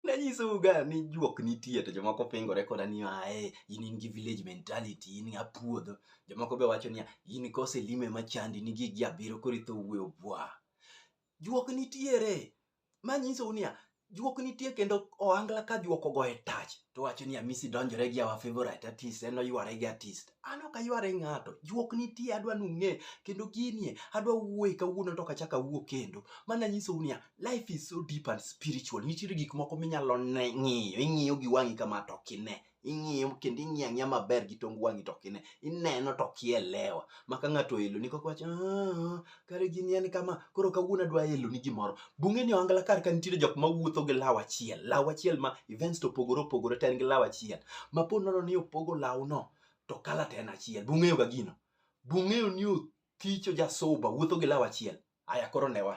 nanyisou ga ni juok nitie to jomoko pingore koda ni ae in in gi village mentality in a puodho jomoko be wacho niya in kose lime machandi ni gigi abiro koro itho wuoyo bwa juok nitiere manyisou niya juok nitie kendo ohangla ka juok ogoye tach to wacho ni amisi donjore gi our favorite artist en oyware gi artist an ok ayware ng'ato juok nitie adwa nung'e kendo ginie adwa wuoye kawuono to kachaka wuo kendo mana nyisou niya life is so deep and spiritual nitiere gik moko minyalo ne ng'iyo ing'iyo gi wang'i kama to ok ine ing'iyo kendo ing'iyo ang'iya maber gi tong wang'i to ok ine ineno to ok ielewa maka ng'ato elo ni kaka wacho "Ah, kare gini en kama koro kawuono adwa elo ni gimoro bunge ni ohangla kar ka nitiere jok mawuotho gi law achiel law achiel ma events to opogore opogore to en gi law achiel ma po nono ni opogo lawno to kala to en achiel bung'eyo ga gino bung'eyo ni othicho jasuba wuotho gi law achiel aya koro newa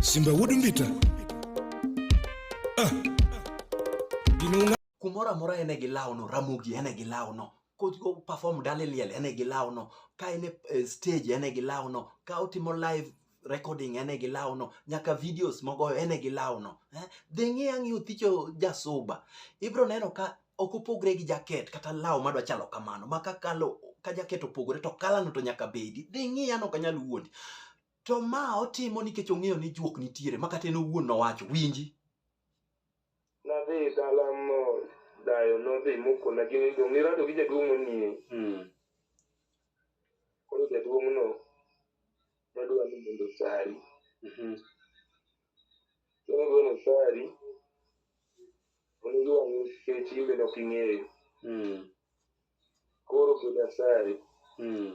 Simba Wood Mbita. Ah. Ginunga. Kumoro amora ene gi lawno, Ramogi ene gi lawno. Ko perform dale liel ene gi lawno. Ka ene eh, stage ene gi lawno. Ka otimo live recording ene gi lawno nyaka videos mogoyo ene gi lawno eh? dhi ng'i ang'i othicho jasuba ibro neno ka ok opogre gi jaket kata law madwa chalo kamano ma ka kalo ka jaket opogore to kalano to nyaka bedi dhi ng'i an ok anyal wuondi to ma otimo nikech ong'eyo ni juok nitiere ma kata en owuon nowacho winji nadhi dala mo dayo nodhi mokona gini to ng'irado gi jaduong' manie koro jaduong'no Adwa ni mondo sari. Mhm. Koro golo sari. Onego wang'e kech imbe nok ing'eyo. Mm. Koro koda sari. Mm.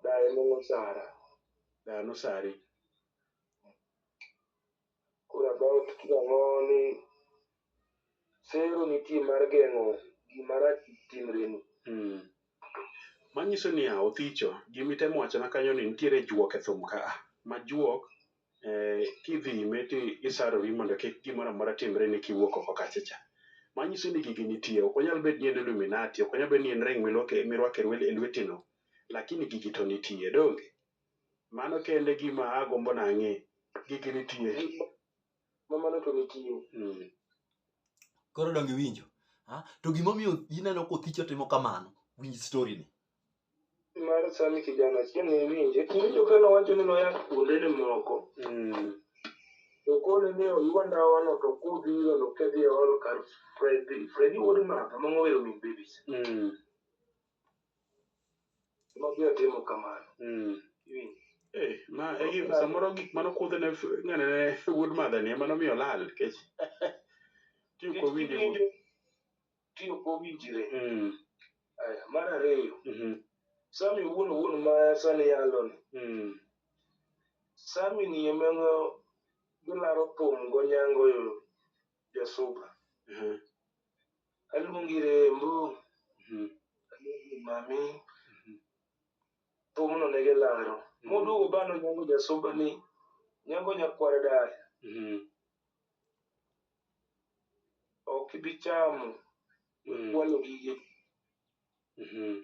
Daye mong'o sara. Daye mong'o sari. Koro about ang'o ni sero nitie mar geng'o gima rach kik timreni. Mm. Manyiso ni a othicho, gimitemo wachona kanyo ni nitiere juok e thum ka a. Ma juok eh, kidhi ime ti isarori mondo kik gimoro amora timre ni kiwuok oko kacha cha. Manyiso ni gigi nitie, ok onyal bed ni en Illuminati, ok onyal bed ni en ring milwake- mirwako e lwe- e lwetino, lakini gigi to nitie, donge? Mano kende gima agombo nang'e. Gigi nitie. Ma mano to nitie. Mm. Koro donge iwinjo? Ha? To gimomiyo ineno kothicho timo kamano, winj story ni. Mar sani kijana achiel ne winje. Kiwinjo ka nowacho ni noya kuonde ni moko. Mm. To kone ni oywa ndawa no to kudhi yo no kedhi e hall kar Freddy. Freddy wuod Martha ma ng'owero min babies. Mm. Mabiro timo kamano. Mm. Iwinjo? Eh, ma e gi- samoro gik mano kudhe ne f- ng'ane ne wuod madha ni ema nomiyo olal nikech tiyo Nikech kowinjo kiwinjo, Tiyo kowinjire. Mm, Aya, Mar ariyo, mhm, sami wuon wuon ma sani yalo ni. mm, Sami ni emeno gilaro pong' go nyango yo ya soba Mhm. alungire mbu Mhm. mami Mhm. thumno ne gilaro Mhm. moduogo bano nyango ja soba ni nyango nyakwar dala Mhm. ok ibi chamo Mhm. kwalo gige Mhm.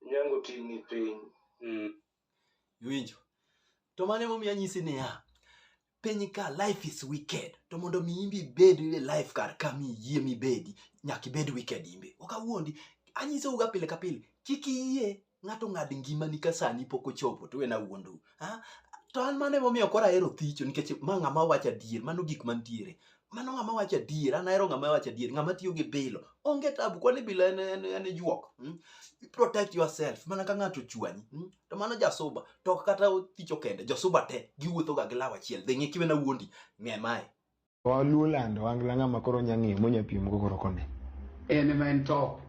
nyango tingni piny Mhm. Iwinjo? To mano emomiyo anyisi niya, piny ka life is wicked to mondo mi imbe ibed e life kar ka mi yie mibedi nyaka ibed wicked imbe ok awuondi anyisouga pile ka pile kik iyie ng'ato ng'ad ngimani ka sani pok ochopo to wena wuondou ha? to an mano emomiyo koro ahero thicho nikech ma ng'ama wacho adier mano gik mantiere mano ng'ama wacho adier an ahero ng'ama wacho adier ng'ama tiyo gi bilo onge tabu kwani bilo en, en, en juok mm? You protect yourself mana ka ng'ato chwanyi mm? to mano jasuba to ok kata thicho kende jasuba te giwuothoga gi law achiel dhi ng'e kiwena wuondi ng'e mae Waluo lando wangla ng'ama koro nya ng'iyo monya piem go koro kone. En ema en top.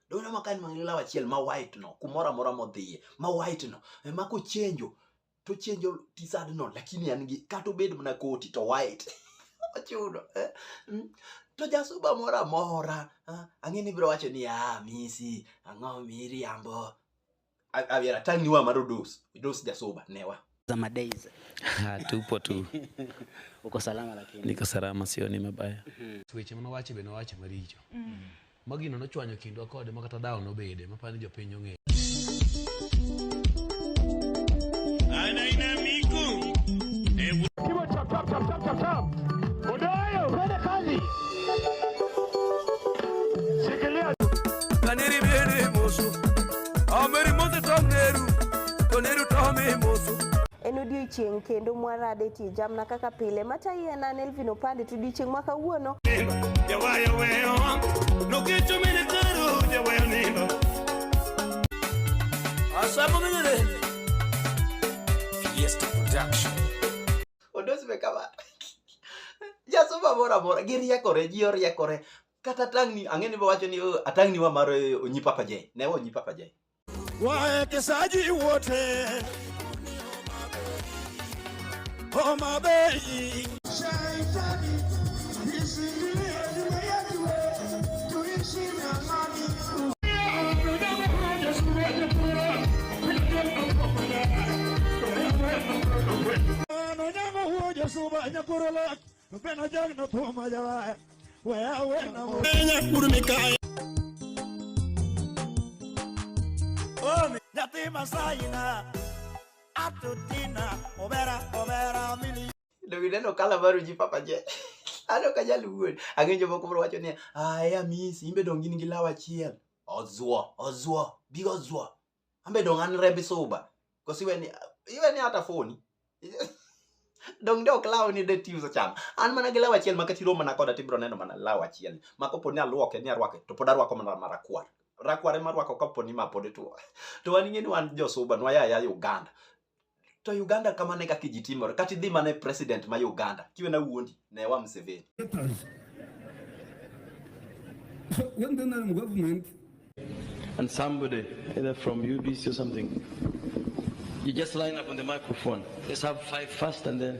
dona ma kan mang'e law achiel ma white no kumoro amora modhiye ma white no ema kochenjo to chenjo tisad no lakini an gi kata obed mana koti to white ochuno eh? Mm. to jasuba moro amora ah, ang'e ni biro wacho ni ah misi ang'o miriambo A- abiera atang' ni wa mar odos odos jasoba newa za madays Ah, tupo tu uko salama lakini niko salama sioni mabaya weche mane owacho be nowacho maricho ma gino nochwanyo kindwa kode ma kata dhawo nobede ma pani jopiny ong'eyo Omeri mose to neru, to neru to omi moso. En odiechieng' kendo mwarade tie jamna kaka pile. Mata iye na Nelvin Opande to odiechieng' ma kawuono. Jawayo weyo, nokecho mene karo, jawayo nindo. Asamo minene. Fiesta Production. Odos me kama. Jasoma mora mora, giriekore, ji oriekore. kata tangni ang'e ni wacho ni oh, atangni wa mar eh, onyi papa jay ne onyi papa jay waekesaji wote Homa Bay Dong ina no kala baru ji papa je. Ano ka jaluo. Ang'e joma koro wacho ni, "Ah, ya misi, imbe dong in gi law achiel." Ozuo, ozuo, bigo zuo. ambe dong an rembi suba kosi weni iweni hata foni dong de ok law ni de tiyo sacham an mana gi law achiel ma kati romo na koda tibro neno mana law achiel ma kopo ni alwoke ni arwake to pod arwako mana marakwar rakwar ema arwako kapo ni ma pod tuo to wan ing'e ni wan josuba nwaya ya Uganda to Uganda kamane kaka ji timore kata idhi mana e president ma Uganda kiwe na wuondi ne wa Museveni when the NRM government and somebody either from UBC or something you just line up on the microphone let's have five first and then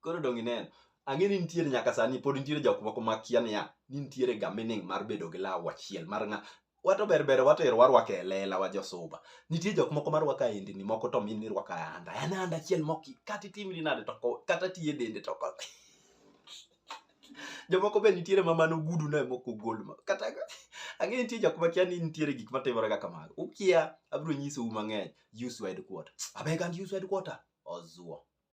koro dong ineno ang'e ni nitiere nyaka sani pod nitiere jok moko makia niya ni nitiere ga meaning mar bedo gi law achiel mar ng'a wato ber ber watero warwako e lela wa josuba nitie jok moko marwako aendni moko to min nirwako ayanda en ayanda achiel mok kata itimri nade to kata tiye dende to jomoko be nitiere ma mano gudu ne moko gol ma kata ang'e nitie jok makia ni nitiere gik matimore kaka mago ukia abiro nyisou mang'eny use wide quarter abeg and use wide quarter ozuo